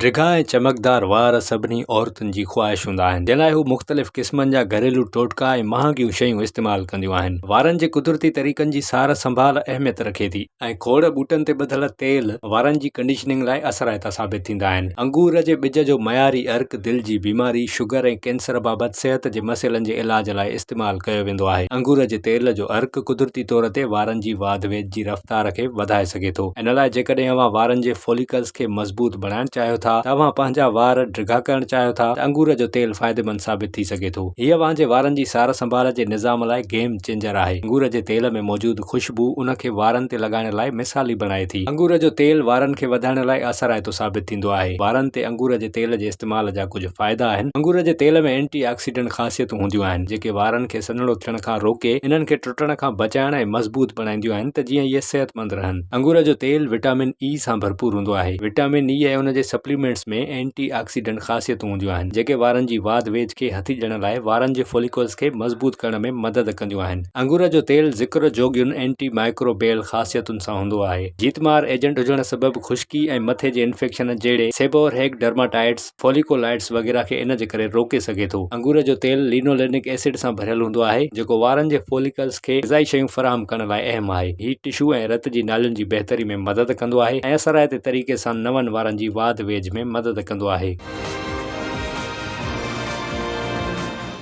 ڊگها ۽ چمڪدار وار سڀني عورتن جي خواهش هوندا آهن، جنهن لاء هو مختلف قسمن جا گهريلو ٽوٽڪا ۽ مهانگيون شيون استعمال ڪنديون آهن. وارن جي قدرتي طريقن جي سار سنڀال اهميت رکي ٿي ۽ کوڙ ٻوٽن تي ٻڌل تيل وارن جي ڪنڊيشننگ لاء اثرائتا ثابت ٿيندا آهن. انگور جي ٻج جو معياري عرق دل جي بيماري، شگر ۽ ڪينسر بابت صحت جي مسئلن جي علاج لاء استعمال ڪيو ويندو آهي. انگور جي تيل جو عرق قدرتي طور تي وارن جي واڌ جي رفتار کي وڌائي سگهي ٿو ان لاء جيڪڏهن اوهان وارن جي فوليڪلز کي مضبوط بڻائڻ چاهيو ٿا ته اوهان پنهنجا وار ڊگها ڪرڻ چاهيو ٿا ته انگور جو تيل فائديمند ثابت ٿي سگهي ٿو هي اوهان جي وارن جي سار سنڀال جي نظام لاء گيم چينجر آهي انگور جي تيل ۾ موجود خوشبو ان کي وارن تي لڳائڻ لاء مثالي بڻائي ٿي انگور جو تيل وارن کي وڌائڻ لاء اثرائتو ثابت ٿيندو آهي وارن تي انگور جي تيل جي استعمال جا ڪجهه فائدا آهن انگور جي تيل ۾ اينٽي آڪسيڊنٽ خاصيتون هونديون آهن جيڪي وارن کي سنهڙو ٿيڻ کان روڪي انهن کي ٽٽڻ کان بچائڻ ۽ مضبوط بڻائينديون آهن ته جيئن اهي صحتمند رهن. انگور جو تيل وٽامن اي سان ڀرپور هوندو آهي. وٽامن اي ۽ ان جي سپليمينٽس ۾ اينٽي آڪسيڊنٽ خاصيتون هونديون آهن، جيڪي وارن جي واڌ ويجهه کي هٿي ڏيڻ لاء وارن جي فوليڪلز کي مضبوط ڪرڻ ۾ مدد ڪنديون آهن. انگور جو تيل ذڪر جوڳين اينٽي مائڪروبيل خاصيتن سان هوندو آهي. جيتمار ايجنٽ هجڻ سبب خشڪي ۽ مٿي جي انفيڪشن جهڙي سيبورهيڪ ڊرماٽائيڊس، فوليڪولائڊز وغيره کي ان جي ڪري روڪي سگهي ٿو. انگور جو تيل لينولينڪ ايسڊ سان ڀريل هوندو آهي، جيڪو وارن جي فوليڪلز کي غذائي شيون فراهم ڪرڻ لاء اهم آهي. هي ٽشو ۽ رت جي نالين جي بهتري ۾ مدد ڪندو آهي ۽ اثرائتي طريقي سان نون وارن جي واڌ ويجهه ۾ مدد ڪندو آهي.